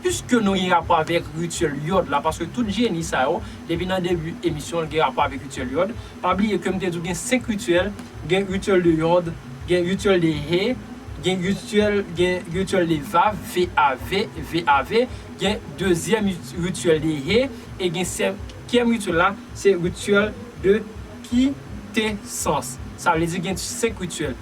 Piske nou gen rapò avèk rityèl yòd la, paske tout jeni sa yo, depi nan debi emisyon l gen rapò avèk rityèl yòd, pa bliye ke m te di w gen 5 rityèl, gen rityèl de yòd, gen rityèl de he, gen rityèl, gen rityèl de vav, VAV, VAV, gen dezyèm rityèl de he, e gen senkyèm rityèl la, se rityèl de kitesans. Sa vle di gen 5 rityèl.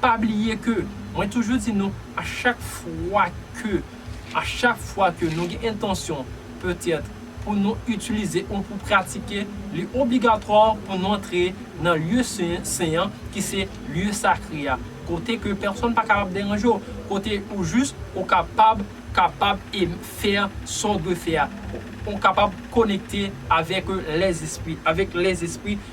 Pa bliye ke mwen toujou di nou a chak fwa ke a chak fwa ke nou gen entansyon petèt pou nou itilize ou pou pratike li obligatwa pou nou antre nan lye sen an ki se lye sakre a kote ke pèsonn pa kapab deranje w kote ou jis ou kapab kapab e fè sa w dwe fè a ou kapab konekte avèk lèzespri avèk lèzespri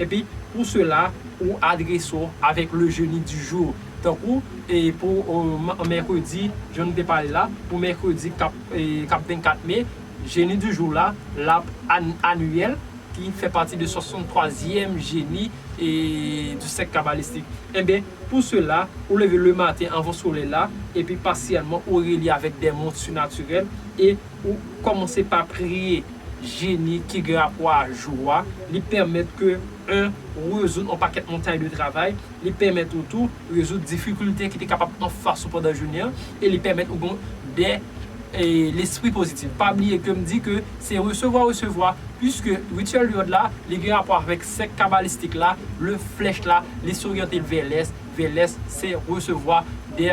Epi pou sela ou adrese w avèk le jeni di jou. Tankou e pou mèkredi jan nou te pale la, pou mèkredi kap kap 24 me, jeni di jou la lap Aniyèl ki fè pati de 63 zièm jeni e di sèk kabalistik. Enben pou sela ou leve le maten anvan solèy la epi pasyèlman ou relye avèk dè mond sinatirèl e Ou kòmanse pa priye Jeni ki gen rapò a jou a, li pèmèt ke 1 ou rezoud yon pakèt montay de travay, li pèmèt ou tou rezoud difikilte ki te kapab anfas ou pandan jounen an, e li pèmèt ou gen de lespri pozitif. Pa bliye ke m di ke se resevwa resevwa, puiske Rityèl de Lòd la, li gen rapò avèk sèk kabalistik la, le flèch la, li soryante l vè lès, vè lès se resevwa de.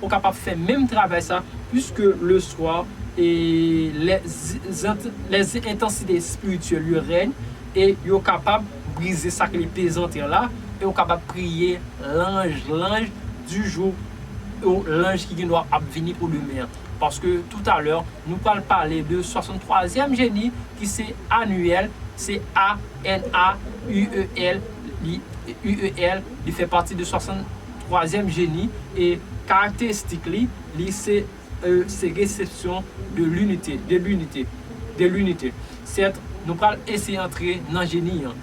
Ou kapab fè menm travay sa pwiske le swa e lè lè entansite espirityèl yo rèy e yo kapab brize sak li pezantè la e ou kapab priye lanj lanj di jou o lanj ki gendwa ap vini pou demen an paske toutalè nou pral pale de 63 zyèm jeni ki se annuel se ANAUEL li UEL li fè pati de 60. twazyèm jeni e karakteristik li, li se e se resepsyon de linite, de linite, de linite. Sèt, nou pral eseye antre nan jeni an.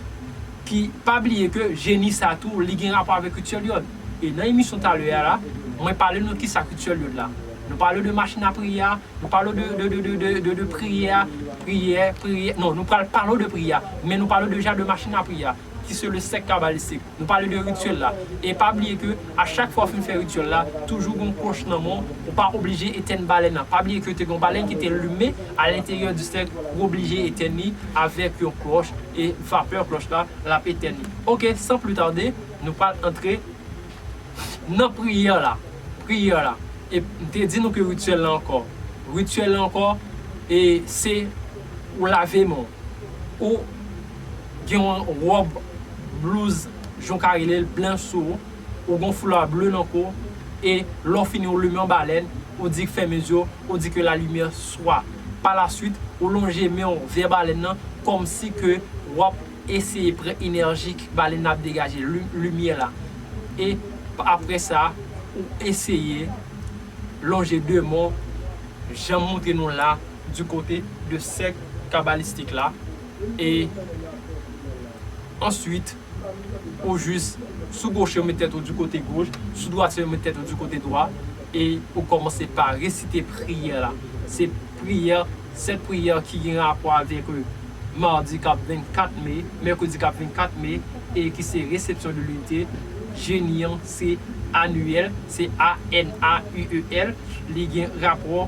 Ki, pa bliye ke jeni sa tou li gen rapò avèk Rituel Yod. E nan emisyon talè a la, mwen pale nou kisa Rituel Yod la. Nou pale w de machin a priye a, nou pale w de, de, de, de, de, de priyè a, priyè, priyè, non, nou pral pale w de priyè a, men nou pale w deja de machin a priye a. ki se le sèk kabalistik. Nou pale de rityèl la. E pa bliye ke a chak fwa ou fin fè rityèl la, toujou gon kwoch nan men w, ou pa oblije etèn balèn nan. Pa bliye ke te gen yon balèn ki te limen a lenteryè di sèk, ou oblije etèn li avèk yon kwoch e vapè kwoch la l ap etèn li. Ok, san pli tade, nou pral antre nan priyè la. Priyè la. E m te di nou ke rityèl la ankò. Rityèl la ankò e se ou lave men w. Ou. gen yon wòb, blouz, jan w ka rele l, blanch sou ou, ou gen yon foulard bleu nan kou w, e lè w fini ou limen yon balèn, ou di fèmen zye w, ou di ke la limyè swa. Pa la swit, ou lonje men w vè balèn nan kòm si ke w ap eseye pran enèji ke balèn nan ap degaje, limyè la. E aprè sa, ou eseye lonje de men w, jan m montre nou la, di kote de sèk kabalistik la. e answit ou jis sou goche ou met tèt ou di kote goch, sou dwati ou met tèt ou di kote dwa e ou kòmanse pa resite priyè la. Se priyè, 7 priyè ki gen rapò avèk Mardi kap 24 Me, Mercredi kap 24 Me e ki se Réception de l'unité. Jeni an se Anuel, se ANAUEL, li gen rapò.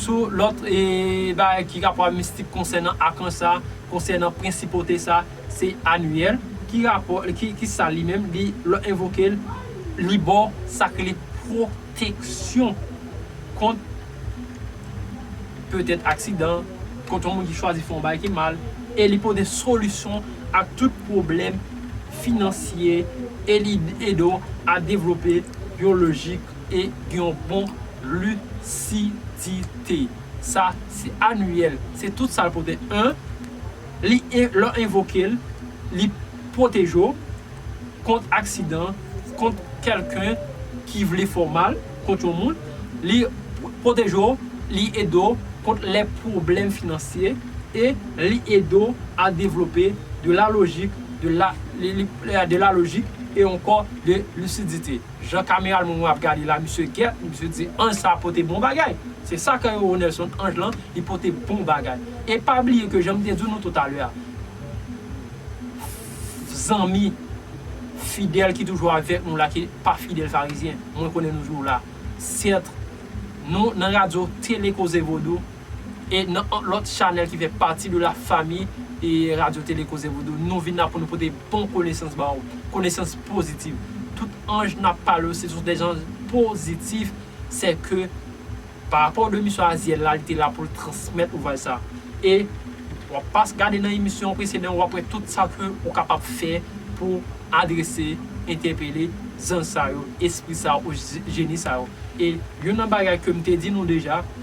Sou lòt bagay ki rapò a mistik konsènan akanj sa, konsènan prensipote sa, se Aniyèl. Ki rapò, ki sa li menm? Li, lè w envoke l, li ba w sa k rele pwoteksyon kont petèt aksidan, kont yon moun ki chwazi fè yon bagay ki mal, e li pote solisyon a tout pwoblèm finansye, e li ede w a devlope yon lojik. e gen yon bon lisidite. Sa se aniyèl, se tout sa l pote 1. Li lè w envoke l, li pwoteje w kont aksidan, kont kèlken ki vle fè w mal, kont yon moun. Li pwoteje w, li ede w kont lè pwoblèm finansye e li ede w a devlope de la lojik, de la lojik e ankò de lisidite. Jan kameral moun mwen ap gade la misye gèt misye di anj sa pote bon bagay se sa kè yo Nelson anj lan li pote bon bagay e pa bliye ke janm te di nou tou talè a zanmi fidèl ki toujou avèk nou la ki pa fidèl farizyen mwen konnen nou jou la certes nou nan radio tele koze vodou. E nan yon lòt chanèl ki fè pati de la fami Radyo Tele Koze Vodou, nou vin la pou nou pote bon konesans ba ou. Konesans pozitif. Tout anj nap pale yo se sou des anj pozitif, sè ke pa rapò de misyon Aziel la, li te la pou l transmèt ouvraj sa. E wap pas gade nan emisyon preseden wap wè tout sa ke ou kapab fè pou adrese, entèpele zanj sa yo, espri sa yo, jeni sa yo. E youn nan bagay ke m te di nou deja,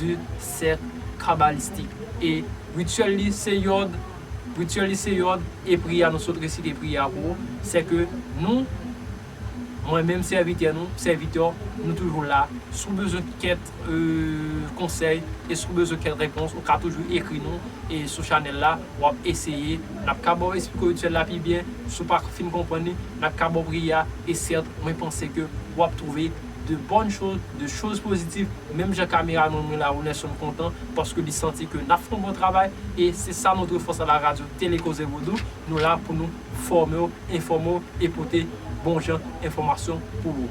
de sèk kabalistik e rityèl li se yòd rityèl li se yòd e priyè a nou sot resite priyè a pou ou sè ke nou mwen menm sèvitè nou sèvitè w nou toujou la si w bezwen kèt konsèy e si w bezwen kèt repons ou ka toujou ekri nou e sou chanèl la w ap eseye n ap ka ba w esplike w rityèl la pi byen si w pa fin konprann li n ap ka ba w priyè a e sèt mwen panse ke w ap twouve de bonnes choses, de choses positives, menm jan kameraman mwen la Ronerson kontan paske li santi ke nap fè yon bon travay e se sa notre force à la radio Télé Koze Vodou, nou la pou nou fòme w, enfòme w e pote bon jan enfòmasyon pou ou.